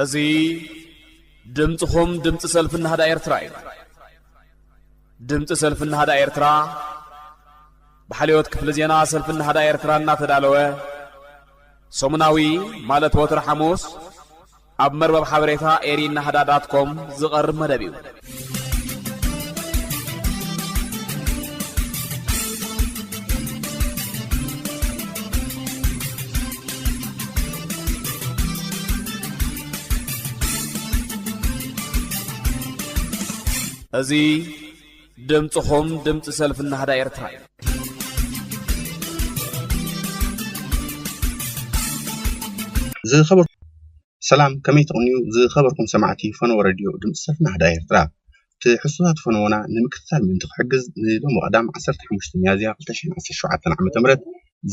እዚ ድምፅኹም ድምፂ ሰልፊ ናህዳ ኤርትራ እዩ ድምፂ ሰልፊ ናህዳ ኤርትራ ብሓልዮት ክፍሊ ዜና ሰልፊ ናህዳ ኤርትራ እናተዳለወ ሰሙናዊ ማለት ወትሪ ሓሙስ ኣብ መርበብ ሓበሬታ ኤሪ ናህዳ ዳት ኮም ዝቐርብ መደብ እዩ። እዚ ድምጽኹም ድምጺ ሰልፊ ናህዳ ኤርትራ እዩ። ዝኸበርኩም ሰላም ከመይ ትቕንዩ ዝኸበርኩም ሰማዕቲ ፈነወ ረድዮ ድምፂ ሰልፊ ናህዳ ኤርትራ ትሕዝቶታት ፈነወና ንምክትታል ምእንቲ ክሕግዝ ንሎሚ ቀዳም 15 ሚያዝያ 2017 ዓ.ም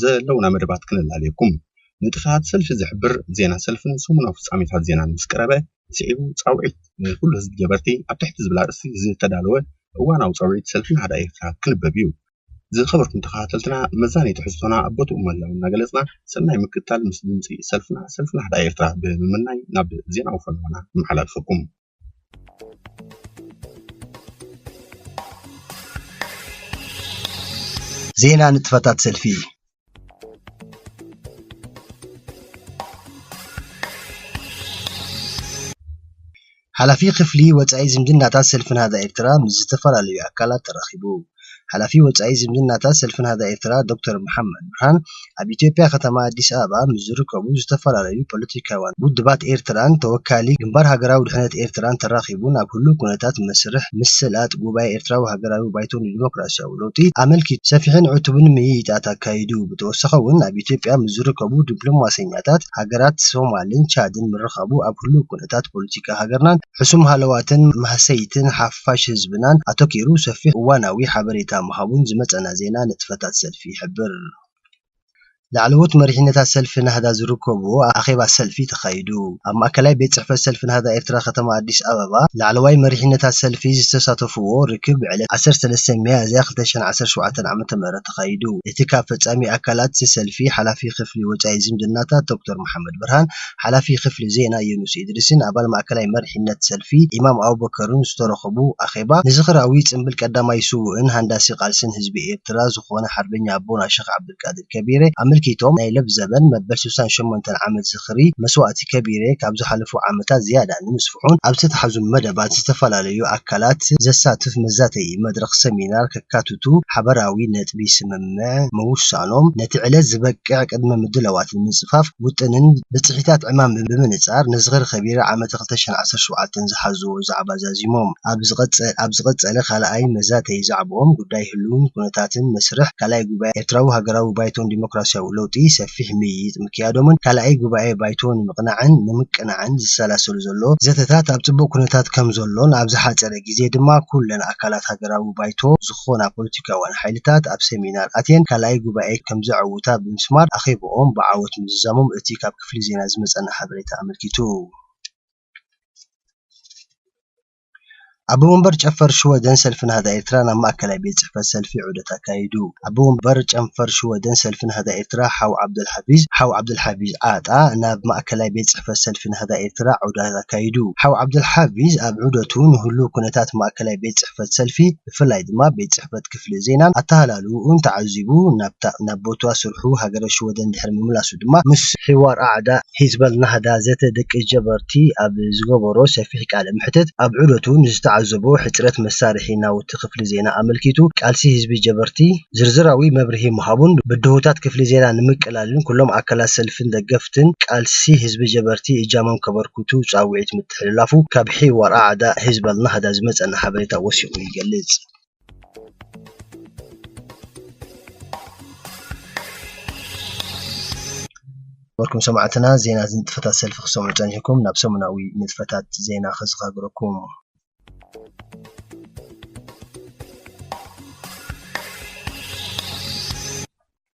ዘለውና መደባት ክነላልየኩም ንጥፈታት ሰልፊ ዝሕብር ዜና ሰልፍን ሰሙናዊ ፍጻሜታት ዜናን ምስ ቀረበ ስዒቡ ፃውዒት ንኹሉ ህዝቢ ጀበርቲ ኣብ ትሕቲ ዝብል ኣርእስቲ ዝተዳለወ እዋናዊ ፃውዒት ሰልፊ ናህዳ ኤርትራ ክልበብ እዩ። ዝኸበርኩም ተኸታተልትና መዛነዪ ትሕዝቶና ኣብ ቦትኡ ምህላው እናገለፅና ሰናይ ምክትታል ምስ ድምፂ ሰልፍና ሰልፊ ናህዳ ኤርትራ ብምምናይ ናብ ዜናዊ ፈነወና ነመሓላልፈኩም። ዜና ንጥፈታት ሰልፊ ሓላፊ ክፍሊ ወፃኢ ዝምድናታት ሰልፊ ናህዳ ኤርትራ ምስ ዝተፈላለዩ ኣካላት ተራኺቡ። ሓላፊ ወፃኢ ዝምድናታት ሰልፊ ናህዳ ኤርትራ ዶክተር መሓመድ ብርሃን ኣብ ኢትዮጵያ ከተማ ኣዲስ ኣበባ ምስ ዝርከቡ ዝተፈላለዩ ፖለቲካውያን ውድባት ኤርትራን ተወካሊ ግንባር ሃገራዊ ድሕነት ኤርትራን ተራኺቡ ናብ ህሉው ኩነታት መስርሕ ምስላጥ ጉባኤ ኤርትራዊ ሃገራዊ ባይቶ ንዲሞክራስያዊ ዝሓለፉ ለውጢ ኣመልኪቱ ሰፊሕን ዕቱብን ምይይጣት ኣካይዱ። ብተወሳኺ እውን ኣብ ኢትዮጵያ ምስ ዝርከቡ ዲፕሎማሰኛታት ሃገራት ሶማልን ቻድን ምርኻቡ ኣብ ህሉው ኩነታት ፖለቲካ ሃገርናን ሕሱም ሃለዋትን ማህሰይትን ሓፋሽ ህዝብናን ኣተኲሩ ሰፊሕ እዋናዊ ሓበሬታ ምሃቡን ዝመጸና ዜና ንጥፈታት ሰልፊ ይሕብር። ላዕለዎት መሪሕነታት ሰልፊ ናህዳ ዝርከቡዎ ኣኼባ ሰልፊ ተኻይዱ። ኣብ ማእከላይ ቤት ጽሕፈት ሰልፊ ናህዳ ኤርትራ ከተማ ኣዲስ ኣበባ፣ ላዕለዋይ መሪሕነታት ሰልፊ ዝተሳተፉዎ ርክብ ብዕለት ዓሰርተ ሰለስተ ሚያዝያ ክልተ ሽሕን ዓሰርተ ሸውዓተን ዓመተ ምህረት ተኻይዱ። እቲ ካብ ፈጻሚ ኣካላት እቲ ሰልፊ ሓላፊ ክፍሊ ወጻኢ ዝምድናታት ዶክተር መሓመድ ብርሃን፣ ሓላፊ ክፍሊ ዜና ዩኑስ ኢድሪስን ኣባል ማእከላይ መሪሕነት ሰልፊ ኢማም ኣቡበከርን ዝተረኸቡ ኣኼባ፣ ንዝኽራዊ ጽምብል ቀዳማይ ስዉእን ሃንዳሲ ቃልስን ህዝቢ ኤርትራ ዝኾነ ሓርበኛ ኣቦና ሸኽ ዓብደልቃድር ከቢረ ኣመልኪቶም ናይ ለብዘበን መበል ስሳን ሸሞንተን ዓመት ዝኽሪ መስዋእቲ ከቢረ ካብ ዝሓለፉ ዓመታት ዝያዳ ንምስፍሑን ኣብ ዝተታሕዙ መደባት ዝተፈላለዩ ኣካላት ዘሳትፍ መዛተዪ መድረኽ ሰሚናር ከካትቱ ሓበራዊ ነጥቢ ስምምዕ ቅድመ ምውሳኖም፣ ነቲ ዕለት ዝበቅዕ ቅድመ ምድላዋት ብምጽፋፍ ውጥንን ብጽሒታት ዕማምን ብምንጻር ንዝኽሪ ከቢራ ዓመተ ክልተ ሽሕን ዓሰርተ ሸውዓተን ዝሓዙዎ ዛዕባ ዛዚሞም። ኣብ ዝቐጸለ ካልኣይ መዛተዪ ዛዕብኦም፣ ጉዳይ ህልውን ኩነታትን መስርሕ ካልኣይ ጉባኤ ኤርትራዊ ሃገራዊ ባይቶ ንዲሞክራስያዊ ለውጢ ሰፊሕ ምይይጥ ምክያዶምን ካልኣይ ጉባኤ ባይቶ ንምቕናዕን ንምቅናዕን ዝሰላሰሉ ዘሎ ዘተታት ኣብ ጽቡቕ ኩነታት ከምዘሎን ኣብ ዝሓጸረ ኣብዚ ግዜ ድማ ኩለን ኣካላት ሃገራዊ ባይቶ ዝኾና ፖለቲካውያን ሓይልታት ኣብ ሰሚናር ኣትየን ካልኣይ ጉባኤ ከምዘዐውታ ብምስማር ኣኼብኦም ብዓወት ምዝዛሞም እቲ ካብ ክፍሊ ዜና ዝመጸና ሓበሬታ ኣመልኪቱ። ኣቦ መንበር ጨፈር ሽወደን ሰልፊ ናህዳ ኤርትራ ናብ ማእከላይ ቤት ጽሕፈት ሰልፊ ዑደት ኣካይዱ። ኣቦ ወንበር ጨንፈር ሽወደን ሰልፊ ናህዳ ኤርትራ ሓው ዓብደልሓፊዝ፣ ሓው ዓብደልሓፊዝ ዓጣ፣ ናብ ማእከላይ ቤት ጽሕፈት ሰልፊ ናህዳ ኤርትራ ዑደት ኣካይዱ። ሓው ዓብደልሓፊዝ ኣብ ዑደቱ ንህሉው ኩነታት ማእከላይ ቤት ጽሕፈት ሰልፊ ብፍላይ ድማ ቤት ጽሕፈት ክፍሊ ዜናን ኣተሃላልውኡን ተዓዚቡ ናብታ ናብ ቦትዋ ስርሑ ሃገረ ሽወደን ድሕሪ ምምላሱ ድማ ምስ ሒዋር ኣዕዳ ሂዝበል ናህዳ ዘተ ደቂ ጀበርቲ ኣብ ዝገበሮ ሰፊሕ ቃለ መሕትት ኣብ ዑደቱ ንዝተዓዘቦ ሕጽረት መሳርሒ ናውቲ፣ ነበርቲ ክፍሊ ዜና ኣመልኪቱ ቃልሲ ህዝቢ ጀበርቲ ዝርዝራዊ መብርሂ ምሃቡን ብድሆታት ክፍሊ ዜና ንምቅላልን ኩሎም ኣካላት ሰልፍን ደገፍትን ቃልሲ ህዝቢ ጀበርቲ እጃሞም ከበርክቱ ጻውዒት ምትሕልላፉ ካብ ሒዋር ኣዕዳ ህዝቢ ኣልናህዳ ዝመጸና ሓበሬታ ወሲኹ ይገልጽ። ነበርኩም ሰማዕትና ዜና ንጥፈታት ሰልፊ ክትሰምዑ ጸኒሕኩም ናብ ሰሙናዊ ንጥፈታት ዜና ከሰጋግረኩም።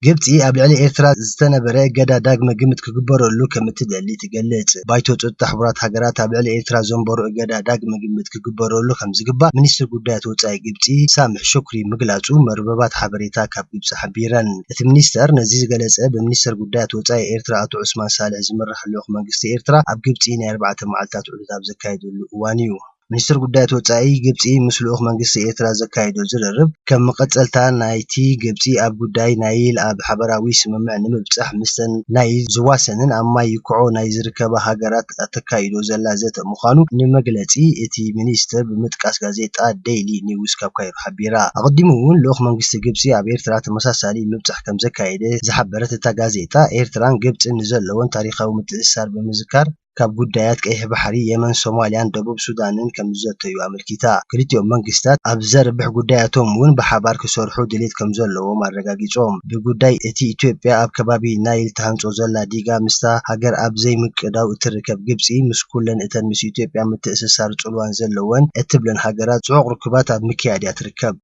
ግብፂ ኣብ ልዕሊ ኤርትራ ዝተነበረ እገዳ ዳግመ ግምት ክግበረሉ ከምትደሊ ትገልፅ። ባይቶ ፀጥታ ሕቡራት ሃገራት ኣብ ልዕሊ ኤርትራ ዘንበሮ እገዳ ዳግመ ግምት ክግበረሉ ከምዝግባእ ሚኒስትር ጉዳያት ወፃኢ ግብፂ ሳምሕ ሹክሪ ምግላፁ መርበባት ሓበሬታ ካብ ግብፂ ሓቢረን። እቲ ሚኒስተር ነዚ ዝገለፀ ብሚኒስተር ጉዳያት ወፃኢ ኤርትራ ኣቶ ዑስማን ሳልሕ ዝምራሕ ልኡኽ መንግስቲ ኤርትራ ኣብ ግብፂ ናይ ኣርባዕተ መዓልታት ርክብ ኣብ ዘካይድሉ እዋን'ዩ። ሚኒስተር ጉዳያት ወጻኢ ግብጺ ምስ ልኡኽ መንግስቲ ኤርትራ ዘካይዶ ዝርርብ፣ ከም መቐጸልታ ናይ'ቲ ግብጺ ኣብ ጉዳይ ናይል ኣብ ሓበራዊ ስምምዕ ንምብጻሕ ምስተን ናይ ዝዋሰንን ኣብ ማይ ይኩዖ ናይ ዝርከባ ሃገራት ኣተካይዶ ዘላ ዘተ ምዃኑ ንመግለጺ እቲ ሚኒስተር ብምጥቃስ ጋዜጣ ደይሊ ኒውስ ካብ ካይሮ ሓቢራ። ኣቐዲሙ'ውን ልኡኽ መንግስቲ ግብጺ ኣብ ኤርትራ ተመሳሳሊ ምብጻሕ ከም ዘካየደ ዝሓበረት እታ ጋዜጣ፣ ኤርትራን ግብጽን ንዘለወን ታሪኻዊ ምትእስሳር ብምዝካር፣ ካብ ጉዳያት ቀይሕ ባሕሪ፣ የመን፣ ሶማልያን ደቡብ ሱዳንን ከምዝዘተዩ ኣመልኪታ። ክልቲኦም መንግስታት ኣብ ዘርብሕ ጉዳያቶም'ውን ብሓባር ክሰርሑ ድሌት ከምዘለዎም ኣረጋጊጾም። ብጉዳይ እቲ ኢትዮጵያ ኣብ ከባቢ ናይል ትሃንጾ ዘላ ዲጋ ምስታ ሃገር ኣብ ዘይምቅዳው እትርከብ ግብጺ ምስ ኩለን እተን ምስ ኢትዮጵያ ምትእስሳር ጽልዋን ዘለወን እትብለን ሃገራት ጽዑቕ ርክባት ኣብ ምክያድ'ያ ትርከብ።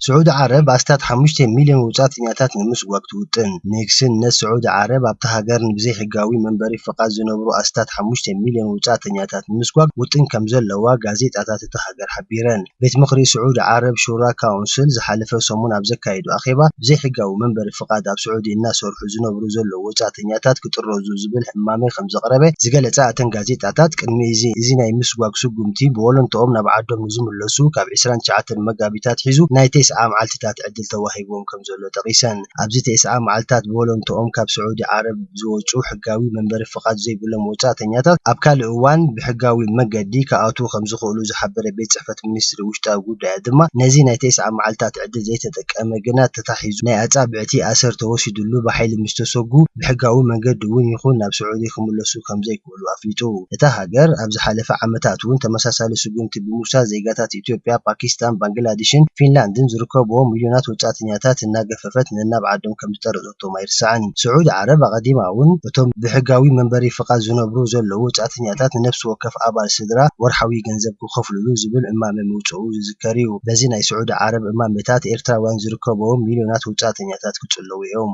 ስዑዲ ዓረብ ኣስታት ሓሙሽተ ሚልዮን ወጻእተኛታት ንምስጓግ ትውጥን። ንግስነት ስዑዲ ዓረብ ኣብታ ሃገር ንብዘይሕጋዊ መንበሪ ፍቓድ ዝነብሩ ኣስታት ሓሙሽተ ሚልዮን ወጻእተኛታት ንምስጓግ ውጥን ከምዘለዋ ጋዜጣታት እታ ሃገር ሓቢረን። ቤት ምኽሪ ስዑዲ ዓረብ፣ ሹራ ካውንስል፣ ዝሓለፈ ሰሙን ኣብ ዘካየዶ ኣኼባ፣ ብዘይሕጋዊ መንበሪ ፍቓድ ኣብ ስዑዲ እናሰርሑ ዝነብሩ ዘለዉ ወጻእተኛታት ክጥረዙ ዝብል እማመ ከምዘቕረበ ዝገለጻ እተን ጋዜጣታት፣ ቅድሚ እዚ እዚ ናይ ምስጓግ ስጉምቲ ብወለንትኦም ናብ ዓዶም ክሳብ ዝምለሱ ካብ ዕስራን ትሽዓተን መጋቢት ኣትሒዙ ናይ ቴስዓ መዓልቲታት ዕድል ተዋሂብዎም ከምዘሎ ጠቒሰን። ኣብዚ ቴስዓ መዓልቲታት ብወለንትኦም ካብ ስዑዲ ዓረብ ዝወጽኡ ሕጋዊ መንበሪ ፍቓድ ዘይብሎም ወጻእተኛታት ኣብ ካልእ እዋን ብሕጋዊ መገዲ ክኣትዉ ከምዝኽእሉ ዝሓበረ ቤት ጽሕፈት ሚኒስትሪ ውሽጣዊ ጉዳያት ድማ ነዚ ናይ ቴስዓ መዓልቲታት ዕድል ዘይተጠቀመ ግና ተታሒዙ ናይ ኣጻብዕቲ ኣሰር ተወሲድሉ ብሓይሊ ምስተሰጉ ብሕጋዊ መንገዲ'ውን ይኹን ናብ ስዑዲ ክምለሱ ከምዘይክ ከምዝተረኽቡሉ ኣፍሊጡ። እታ ሃገር ኣብ ዝሓለፈ ዓመታት'ውን ተመሳሳሊ ስጉምቲ ብምውሳድ ዜጋታት ኢትዮጵያ፣ ፓኪስታን፣ ባንግላድሽን ፊንላንድን ዝርከቡዎም ሚልዮናት ወጻእተኛታት እናገፈፈት ነናብ ዓዶም ከምዝጠረዘቶም ኣይርሳዕን። ስዑዲ ዓረብ ኣቐዲማ'ውን እቶም ብሕጋዊ መንበሪ ፍቓድ ዝነብሩ ዘለዉ ወጻእተኛታት ንነፍሲ ወከፍ ኣባል ስድራ ወርሓዊ ገንዘብ ክኸፍሉሉ ዝብል እማመ ምውጽኡ ዝዝከር'ዩ። በዚ ናይ ስዑዲ ዓረብ እማመታት ኤርትራውያን ዝርከቡዎም ሚልዮናት ወጻእተኛታት ክጽለዉ'ዮም።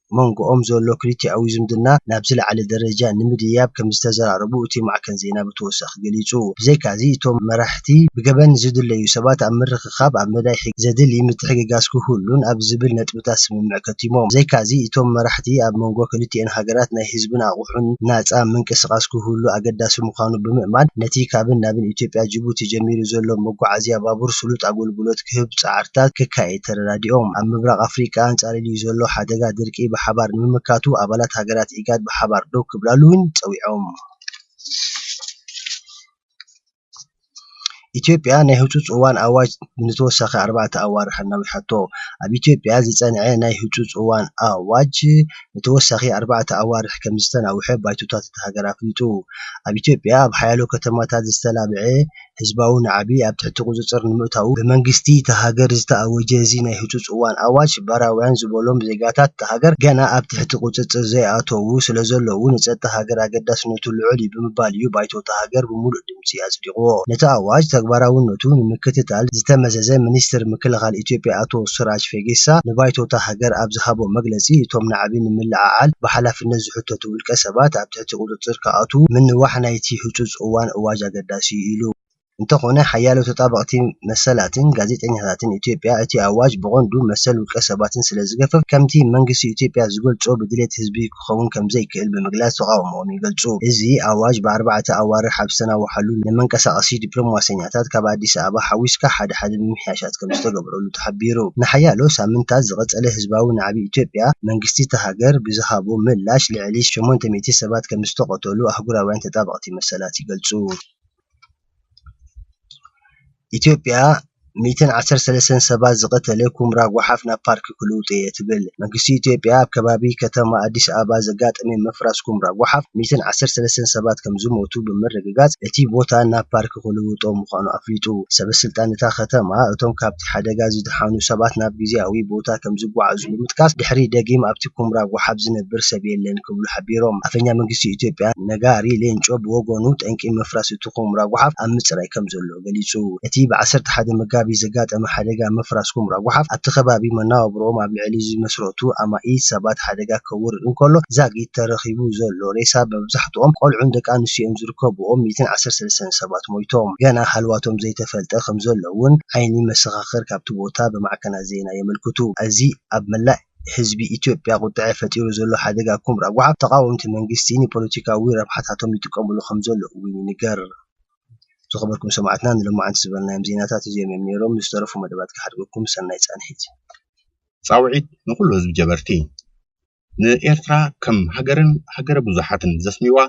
መንጎኦም ዘሎ ክልቲኣዊ ዝምድና ናብ ዝለዓለ ደረጃ ንምድያብ ከምዝተዘራረቡ እቲ ማዕከን ዜና ብተወሳኺ ገሊጹ። ብዘይካ'ዚ እቶም መራሕቲ ብገበን ዝድለዩ ሰባት ኣብ ምርኽኻብ ኣብ መዳይ ሕጊ ዘድሊ ምትሕግጋዝ ክህሉን ኣብ ዝብል ነጥብታት ስምምዕ ከቲሞም። ብዘይካ'ዚ እቶም መራሕቲ ኣብ መንጎ ክልቲኤን ሃገራት ናይ ህዝብን ኣቑሑን ናጻ ምንቅስቓስ ክህሉ ኣገዳሲ ምዃኑ ብምእማን ነቲ ካብን ናብን ኢትዮጵያ-ጂቡቲ ጀሚሩ ዘሎ መጓዓዝያ ባቡር ስሉጥ ኣገልግሎት ክህብ ጻዕርታት ከካይድ ተረዳዲኦም። ኣብ ምብራቕ ኣፍሪቃ ኣንጻሊልዩ ዘሎ ሓደጋ ድርቂ ብሓባር ንምምካቱ ኣባላት ሃገራት ኢጋድ ብሓባር ደው ክብላሉ'ውን ጸዊዖም። ኢትዮጵያ ናይ ህጹጽ እዋን ኣዋጅ ንተወሳኺ ኣርባዕተ ኣዋርሕ ኣናዊሓቶ። ኣብ ኢትዮጵያ ዝጸንዐ ናይ ህጹጽ እዋን ኣዋጅ ንተወሳኺ ኣርባዕተ ኣዋርሕ ከምዝተናውሐ ባይቶታት እታ ሃገር ኣፍሊጡ። ኣብ ኢትዮጵያ ኣብ ሓያሎ ከተማታት ዝተላብዐ ህዝባዊ ናዕቢ ኣብ ትሕቲ ቁፅፅር ንምእታዉ ብመንግስቲ እታ ሃገር ዝተኣወጀ እዚ ናይ ህፁፅ እዋን ኣዋጅ ባራውያን ዝበሎም ዜጋታት እታ ሃገር ገና ኣብ ትሕቲ ቁፅፅር ዘይኣተዉ ስለዘለዉ ንፀጥታ ሃገር ኣገዳስነቱ ልዑል እዩ ብምባል እዩ ባይቶ እታ ሃገር ብሙሉእ ድምፂ ኣፅዲቑዎ። ነቲ ኣዋጅ ተግባራውነቱ ንምክትታል ዝተመዘዘ ሚኒስትር ምክልኻል ኢትዮጵያ ኣቶ ስራጅ ፌጌሳ ንባይቶ እታ ሃገር ኣብ ዝሃቦ መግለፂ እቶም ናዕቢ ንምልዕዓል ብሓላፍነት ዝሕተቱ ውልቀሰባት ኣብ ትሕቲ ቁጽጽር ክኣትዉ ምንዋሕ ናይቲ ህጹጽ እዋን ኣዋጅ ኣገዳሲ'ዩ ኢሉ። እንተኾነ ሓያሎ ተጣበቕቲ መሰላትን ጋዜጠኛታትን ኢትዮጵያ እቲ ኣዋጅ ብቐንዱ መሰል ውልቀ ሰባትን ስለ ዝገፍፍ ከምቲ መንግስቲ ኢትዮጵያ ዝገልጾ ብድሌት ህዝቢ ክኸውን ከም ዘይክእል ብምግላጽ ተቓውሞኦም ይገልጹ። እዚ ኣዋጅ ብኣርባዕተ ኣዋርሕ ኣብ ዝተናውሓሉ ንመንቀሳቐሲ ዲፕሎማሰኛታት ካብ ኣዲስ ኣበባ ሓዊስካ ሓደ ሓደ ምምሕያሻት ከም ዝተገብረሉ ተሓቢሩ። ንሓያሎ ሳምንታት ዝቐጸለ ህዝባዊ ናዕቢ ኢትዮጵያ፣ መንግስቲ'ታ ሃገር ብዝሃቦ ምላሽ ልዕሊ ሸሞንተ ሚእቲ ሰባት ከምዝተቐተሉ ኣህጉራውያን ተጣበቕቲ መሰላት ይገልጹ። ኢትዮጵያ ሚእትን ዓሰርተ ሰለስተን ሰባት ዝቐተለ ኩምራ ጓሓፍ ናብ ፓርክ ክልውጥ'የ ትብል። መንግስቲ ኢትዮጵያ ኣብ ከባቢ ከተማ ኣዲስ ኣበባ ዘጋጠመ ምፍራስ ኩምራ ጓሓፍ ሚእትን ዓሰርተ ሰለስተን ሰባት ከምዝሞቱ ብምርግጋጽ፣ እቲ ቦታ ናብ ፓርክ ክልወጥ እዩ ኢሉ። ቁጽሪ ክልውጦ ምዃኑ ኣፍሊጡ። ሰበስልጣን እታ ከተማ፣ እቶም ካብቲ ሓደጋ ዝደሓኑ ሰባት ናብ ግዝያዊ ቦታ ከምዝጓዓዙ ብምጥቃስ፣ ድሕሪ ደጊም ኣብቲ ኩምራ ጎሓፍ ዝነብር ሰብ የለን ክብሉ ሓቢሮም። ኣፈኛ መንግስቲ ኢትዮጵያ ነጋሪ ሌንጮ ብወገኑ፣ ጠንቂ ምፍራስ እቲ ኩምራ ጎሓፍ ኣብ ምጽራይ ከምዘሎ ገሊጹ። እቲ ብ ዓሰርተ ሓደ መጋቢት ዘጋጠመ ሓደጋ ምፍራስ ኩምራ ጎሓፍ፣ ኣብቲ ከባቢ መነባብሮኦም ኣብ ልዕሊ ዝመስረቱ ኣማኢት ሰባት ሓደጋ ከውርድ እንከሎ፣ ዛጊት ተረኺቡ ዘሎ ሬሳ መብዛሕትኦም ቆልዑን ደቂ ኣንስትዮን ዝርከብዎም እዩ። ከብኦም ሚእትን ዓሰርተ ሰለስተን ሰባት ሞይቶም ገና ሃልዋቶም ዘይተፈልጠ ከምዘሎ'ውን ዓይኒ መሰኻኽር ካብቲ ቦታ ብማዕከናት ዜና የመልክቱ። እዚ ኣብ መላእ ህዝቢ ኢትዮጵያ ቁጠዐ ፈጢሩ ዘሎ ሓደጋ ኩምራ ጓሓፍ ተቓወምቲ መንግስቲ ንፖለቲካዊ ረብሓታቶም ይጥቀምሉ ከምዘሎ'ውን ይንገር። ዝኸበርኩም ሰማዕትና ንሎማዓንቲ ዝበልናዮም ዜናታት እዚኦም'ዮም ኔሮም። ንዝተረፉ መደባት ክሓድገኩም ሰናይ ጻንሒት። ጻውዒት ንኹሉ ህዝቢ ጀበርቲ! ንኤርትራ ከም ሃገርን ሃገረ ብዙሓትን ዘስምዩዋ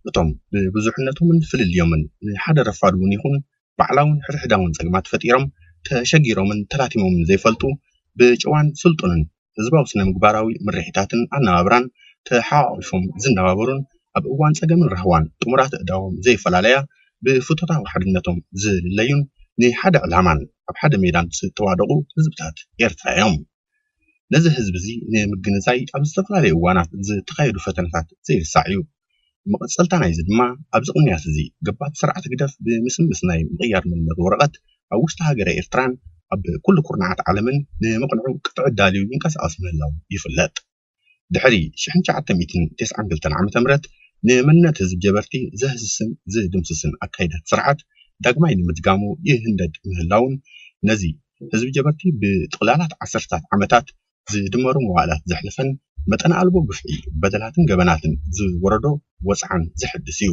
እቶም ብብዙሕነቶምን ፍልልዮምን ንሓደ ረፋድ'ውን ይኹን ባዕላውን ሕድሕዳውን ጸገማት ፈጢሮም ተሸጊሮምን ተላቲሞምን ዘይፈልጡ ብጨዋን ስልጡንን ህዝባዊ ስነ-ምግባራዊ ምርሒታትን ኣነባብራን ተሓቛቒፎም ዝነባበሩን ኣብ እዋን ጸገምን ራህዋን ጥሙራት ኣእዳዎም ዘይፈላለያ ብፍቶታዊ ሓድነቶም ዝልለዩን ንሓደ ዕላማን ኣብ ሓደ ሜዳን ዝተዋደቑ ህዝብታት ኤርትራ'ዮም። ነዚ ህዝቢ እዚ ንምግንዛይ ኣብ ዝተፈላለዩ እዋናት ዝተኻየዱ ፈተነታት ዘይርሳዕ እዩ። መቐፀልታ ናይዚ ድማ ኣብዚ ቅንያት እዚ ገባቲ ስርዓት ህግደፍ ብምስምስ ናይ ምቕያር መንነት ወረቐት ኣብ ውሽጢ ሃገረ ኤርትራን ኣብ ኩሉ ኩርናዓት ዓለምን ንምቕንዑ ቅጥዒ ዳልዩ ይንቀሳቐስ ምህላዉ ይፍለጥ። ድሕሪ ሽሕን ትሽዓተ ሚእትን ተስዓን ክልተን ዓመተ ምህረት ንመንነት ህዝቢ ጀበርቲ ዘህስስን ዝድምስስን ኣካይዳት ስርዓት ዳግማይ ንምድጋሙ ይህንደድ ምህላዉን ነዚ ህዝቢ ጀበርቲ ብጥቕላላት ዓሰርተታት ዓመታት ዝድመሩ መዋእላት ዘሕለፈን መጠን ኣልቦ ግፍዒ በደላትን ገበናትን ዝወረዶ ወጽዓን ዘሕድስ እዩ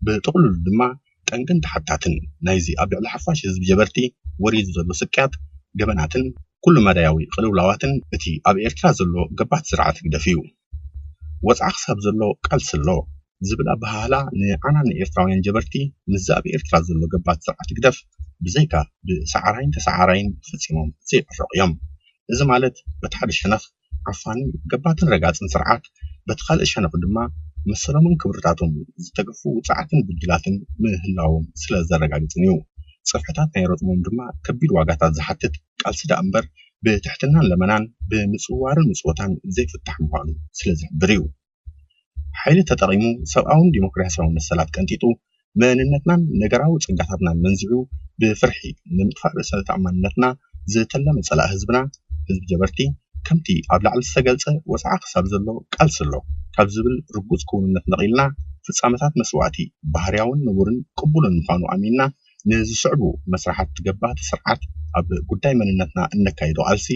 ብጥቕሉሉ ድማ ጠንቅን ተሓታትን ናይዚ ኣብ ልዕሊ ሓፋሽ ህዝቢ ጀበርቲ ወሪዱ ዘሎ ስቅያት፣ ገበናትን ኩሉ-መዳያዊ ቅልውላዋትን እቲ ኣብ ኤርትራ ዘሎ ገባቲ ስርዓት ህግደፍ'ዩ። ወጽዓ ክሳብ ዘሎ ቃልሲ ኣሎ ዝብል ኣበሃህላ ንዓና ንኤርትራውያን ጀበርቲ ምስዚ ኣብ ኤርትራ ዘሎ ገባቲ ስርዓት ህግደፍ ብዘይካ ብሰዓራይን ተሰዓራይን ፈጺሞም ዘይዕረቑ'ዮም። እዚ ማለት በቲ ሓደ ሸነኽ፣ ዓፋኒ ገባቲን ረጋፂን ስርዓት በቲ ኻልእ ሸነኽ ድማ መሰሎምን ክብርታቶምን ዝተገፉ ውፁዓትን ግዱዳትን ምህላዎም ስለዘረጋግፅን እዩ። ፅፍሕታት ናይ ረፅሞም ድማ ከቢድ ዋጋታት ዝሓትት ቃልሲ ደኣ እምበር ብትሕትናን ለመናን ብምፅዋርን ምፅወታን ዘይፍታሕ ምዃኑ ስለዝሕብር እዩ። ሓይሊ ተጠቒሙ ሰብኣውን ዲሞክራስያውን መሰላት ቀንጢጡ፣ መንነትናን ነገራዊ ጸጋታትናን መንዚዑ ብፍርሒ ንምጥፋእ ርእሰ ተኣማንነትና ዝተለመ ጸላኢ ህዝብና ህዝቢ ጀበርቲ ከምቲ ኣብ ላዕሊ ዝተገልጸ ወጽዓ ክሳብ ዘሎ ቃልሲ ኣሎ ካብ ዝብል ርጉጽ ክውንነት ነቒልና ፍጻመታት መስዋእቲ ባህርያውን ንቡርን ቅቡልን ምዃኑ ኣሚንና ንዝስዕቡ መስርሓት ገባቲ ስርዓት ኣብ ጉዳይ መንነትና እነካይዶ ቃልሲ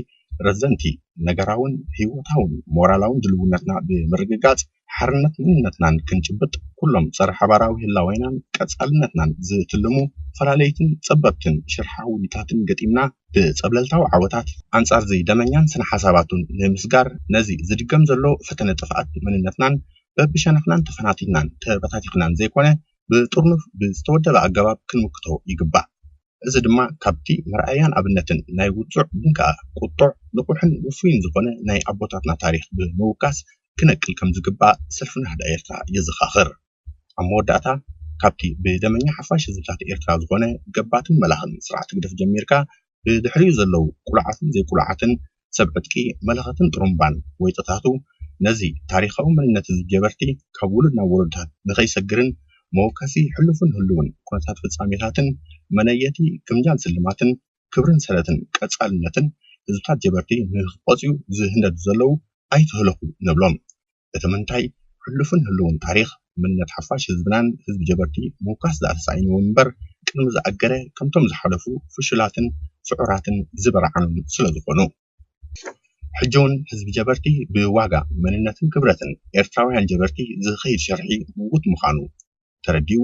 ረዘንቲ ነገራውን ህይወታውን ሞራላውን ድልውነትና ብምርግጋጽ ሓርነት መንነትናን ክንጭብጥ ኩሎም ጸረ ሓባራዊ ህላዌናን ቀጻልነትናን ዝትልሙ ፈላለይትን ጸበብትን ሽርሓዊታትን ገጢምና ብጸብለልታዊ ዓወታት ኣንጻርዚ ደመኛን ስነ-ሓሳባቱን ንምስጋር ነዚ ዝድገም ዘሎ ፈተነ ጥፍኣት መንነትናን በብሸነኽናን ተፈናቲትናን ተበታቲኽናን ዘይኮነ ብጥርኑፍ ብዝተወደበ ኣገባብ ክንምክቶ ይግባእ። እዚ ድማ ካብቲ መርኣያን ኣብነትን ናይ ውፁዕ ግን ከዓ ቁጡዕ፣ ንቑሕን ውፉይን ዝኾነ ናይ ኣቦታትና ታሪኽ ብምውካስ ክነቅል ከምዝግባእ ሰልፊ ናህዳ ኤርትራ የዘኻኽር። ኣብ መወዳእታ ካብቲ ብደመኛ ሓፋሽ ህዝብታት ኤርትራ ዝኾነ ገባትን መላኽን ስርዓት ህግደፍ ጀሚርካ ብድሕሪኡ ዘለዉ ቅሉዓትን ዘይቅሉዓትን ሰብ ዕጥቂ፣ መለኸትን ጥሩምባን ወይጦታቱ ነዚ ታሪኻዊ መንነት'ዚ ጀበርቲ ካብ ውሉድ ናብ ወለዶታት ንኸይሰግርን መወከሲ ሕሉፍን ህሉውን ኩነታት ፍጻሜታትን መነየቲ ግምጃን ስልማትን ክብርን ሰረትን ቀጻልነትን ህዝብታት ጀበርቲ ንኽቆጽዩ ዝህንደዱ ዘለዉ ኣይትህለኹ ንብሎም። እቲ ምንታይ ሕሉፍን ህልውን ታሪኽ መንነት ሓፋሽ ህዝብናን ህዝቢ ጀበርቲ ምውካስ ድኣ ተሳኢንዎም እምበር ቅድሚ ዝኣገረ ከምቶም ዝሓለፉ ፍሹላትን ስዑራትን ዝበርዓኑን ስለዝኾኑ ሕጂውን ህዝቢ ጀበርቲ ብዋጋ መንነትን ክብረትን ኤርትራውያን ጀበርቲ ዝኸይድ ሸርሒ ምውት ምዃኑ ተረዲኡ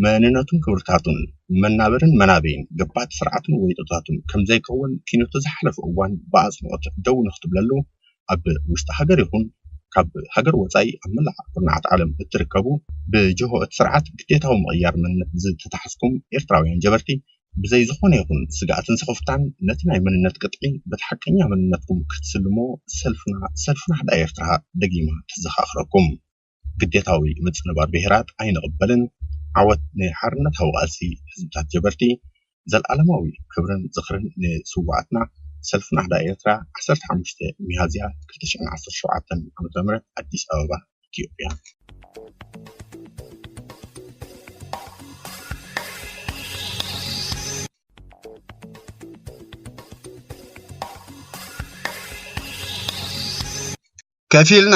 መንነቱን ክብርታቱን መናብርን መናበይን ገባቲ ስርዓቱን ወይጦታቱን ከምዘይከውን ኪኖቲ ዝሓለፉ እዋን ብኣጽንኦት ደው ንክትብለሉ ኣብ ውሽጢ ሃገር ይኹን ካብ ሃገር ወፃኢ ኣብ መላእ ኩርናዓት ዓለም እትርከቡ ብጅሆ እቲ ስርዓት ግዴታዊ ምቕያር መንነት ዝተታሕዝኩም ኤርትራውያን ጀበርቲ ብዘይ ዝኾነ ይኹን ስግኣትን ስኽፍታን ነቲ ናይ መንነት ቅጥዒ በቲ ሓቀኛ መንነትኩም ክትስልሞ ሰልፍና ሰልፍና ህዳ ኤርትራ ደጊማ ትዘኻኽረኩም። ግዴታዊ ምጽንባር ብሄራት ኣይንቕበልን፣ ዓወት ንሓርነታዊ ቃልሲ ህዝብታት ጀበርቲ፣ ዘልኣለማዊ ክብርን ዝኽርን ንስውኣትና፣ ሰልፊ ናህዳ ኤርትራ ዓሰርተ ሓሙሽተ ሚያዝያ ክልተ ሽሕን ዓሰርተ ሸውዓተን ዓ ም ኣዲስ ኣበባ ኢትዮጵያ። ከፊልና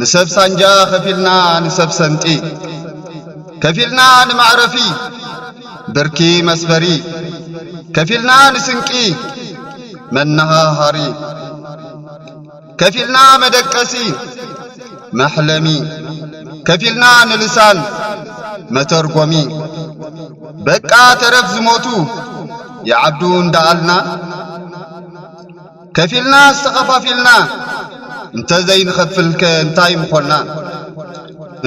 ንሰብ ሳንጃ ከፊልና ንሰብ ሰንጢ ከፊልና ንመዕረፊ ብርኪ መስፈሪ ከፊልና ንስንቂ መነሃሃሪ ከፊልና መደቀሲ መሕለሚ ከፊልና ንልሳን መተርጎሚ በቃ ተረፍ ዝሞቱ ይዓብዱ እንዳኣልና ከፊልናስ ተኸፋፊልና እንተ ዘይንኸፍልከ እንታይ ምኾና?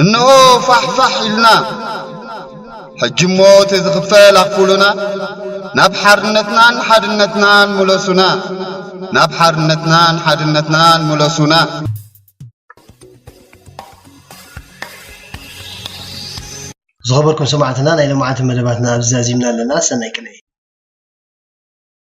እንሆ ፋሕ ፋሕ ኢልና ሕጂሞ እቲ ዝኽፈል ኣኽፉሉና ናብ ሓርነትናን ሓድነትናን ምለሱና ናብ ሓርነትናን ሓድነትናን ምለሱና። ዝኸበርኩም ሰማዕትና ናይ ሎምዓንቲ መደባትና ኣብዚ ዛዚምና ኣለና ሰናይ ቅንኢ።